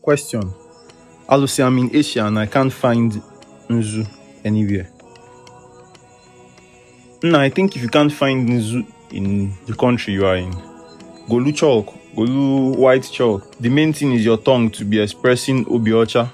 Question. Alusi, I'm in Asia and I can't find Nzu anywhere. No, I think if you can't find Nzu in the country you are in, Golu chalk, Golu white chalk. The main thing is your tongue to be expressing obi ọcha,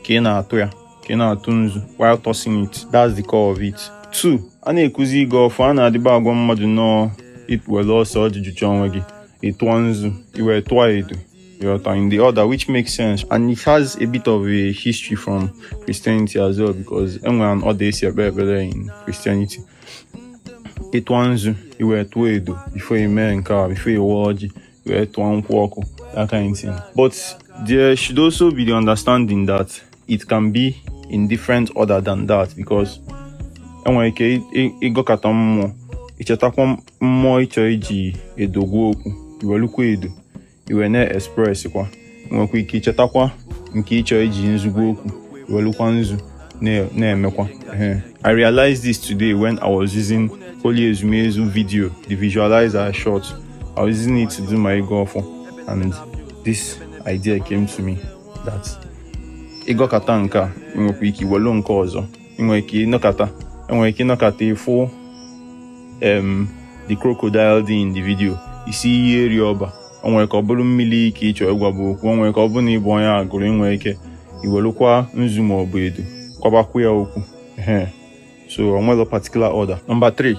ka ị na-atụ ya, ka ị na-atụ nzu, while tossing it. That's the core of it. Two, a na-ekuzi ịgọ ọfọ a na-adịba agwa mmadụ na ị were ose ọjị jụchaa onwe gị ị tụọ nzu i wee tụọ edo You are in the order, which makes sense, and it has a bit of a history from Christianity as well, because e nwere an order e si ekpe ekpere in Christianity. Ị tụọ nzu, i wee tụọ edo, before you mee nke a, before you gọọ ọjị, i wee tụọ nkwụ ọkụ, that kind of thing. But there should also be the understanding that it can be in different order than that, because i nwere ike ịgọkata mmụọ i chetakwa mmụọ ị chọ iji edo gwa okwu i welukwa edo i wee na-expresskwa nwekwa ike ichetakwa nke ị chọ iji nzu gwa okwu welukwa nzu na-emekwa I realized this today when I was using Holy Ezumezu video the visualizer short I was using it to do my ịgọ ọfọ and this idea came to me that ị gọkata nke a nwekwa ike iwelu nke ọzọ i nwere ike ịnọkata i nwere ike ịnọkata ị fụ em the crocodile dị in the video ị sị iyi eri ọba o nwere ike ọ bụrụ mmili ka ị chọ ịgwabu okwu o nwere ike ọ bụrụ na ị bụ onye Agụlụ i nwere ike iwelụkwa nzu ma ọ bụ edo gwabakwu ya okwu ehe so o nwerọ particular order number three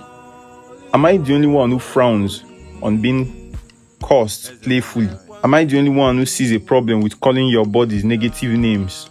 am i the only one who frowns on being cursed playfully am i the only one who sees a problem with calling your buddies negative names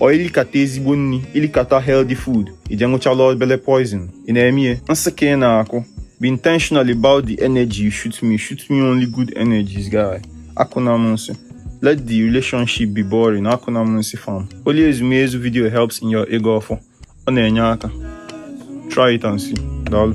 ọ i likata ezigbo nri i likata healthy food i je ṅụchala obele poison ị na-eme ihe nsị ka ị na-akụ be intentional about the energy you shoot me shoot me only good energies guy akụna m nsị let the relationship be boring akụna m nsị fam holy ezumezu video helps in your ịgọ ọfọ ọ na-enye aka try it and see daalụ